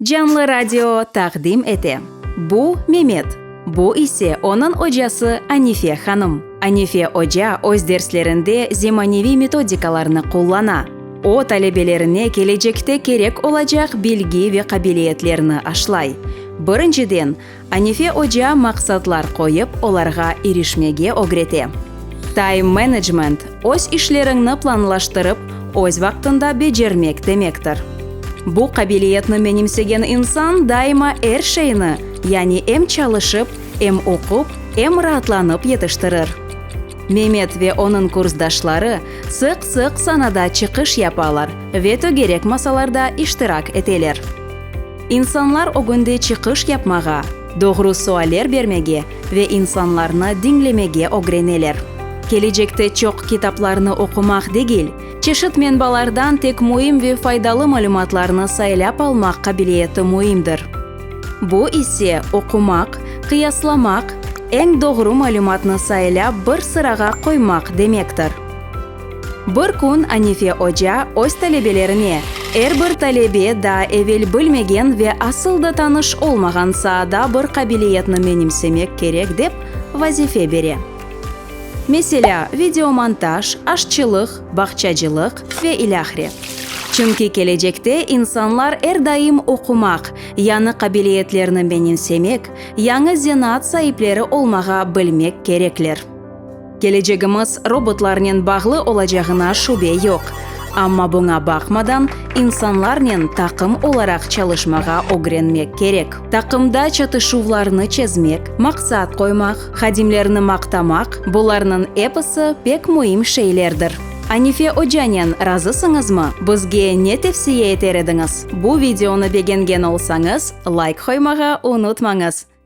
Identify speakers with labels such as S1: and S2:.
S1: Canlı radio taqdim ete. Bu, Memet, bu ise onıñ ocası Anife hanım. Anife oca öz derslerinde zemaneviy metodikalarnı qullana. O, talebelerine kelecekte kerek olacaq bilgi ve qabiliyetlerni aşlay. Birinciden, Anife oca maqsatlar qoyıp, olarğa irişmege ögrete. Time management, öz işleriñni planlaştırıp, öz vaqtında becermek demektir. Bu qabiliyetni menimsegen insan daima er şeyni, yani em çalışıp, em oqup, em raatlanıp yetiştirir. Memet ve onıñ kursdaşları sıq-sıq sanada çıqış yapalar ve tögerek masalarda iştirak eteler. İnsanlar ögünde çıqış yapmağa, doğru sualler bermege ve insanlarnı diñlemege ögreneler. Kelecekte çoq kitaplarnı oqumaq degil, çeşit menbalardan tek müim ve faydalı malümatlarnı saylap almaq qabiliyeti müimdir. Bu ise, oqumaq, qıyaslamaq, eñ doğru malümatnı saylap bir sırağa qoymaq demektir. Bir kün Anife oca öz talebelerine, Er bir talebe daa evel bilmegen ve asıl da tanış olmağan saada bir qabiliyetni menimsemek kerek dep vazife bere. Meselâ, videomontaj, aşçılıq, bağçacılıq ve ilâhre. Çünki kelecekte insanlar er daim oqumaq, yañı qabiliyetlerni menimsemek, yañı zenaat saipleri olmağa bilmek kerekler. Kelecegimiz robotlarnen bağlı olacağına şübe yoq, amma buña baqmadan, insanlarnen taqım olaraq çalışmağa ögrenmek kerek. Taqımda çatışuvlarnı çezmek, maqsat qoymaq, hadimlerni maqtamaq, bularnıñ episi pek müim şeylerdir. Anife ocanen razısıñızmı? Bizge ne tevsiye eter ediñiz? Bu videonı begengen olsañız, layk qoymağa unutmañız!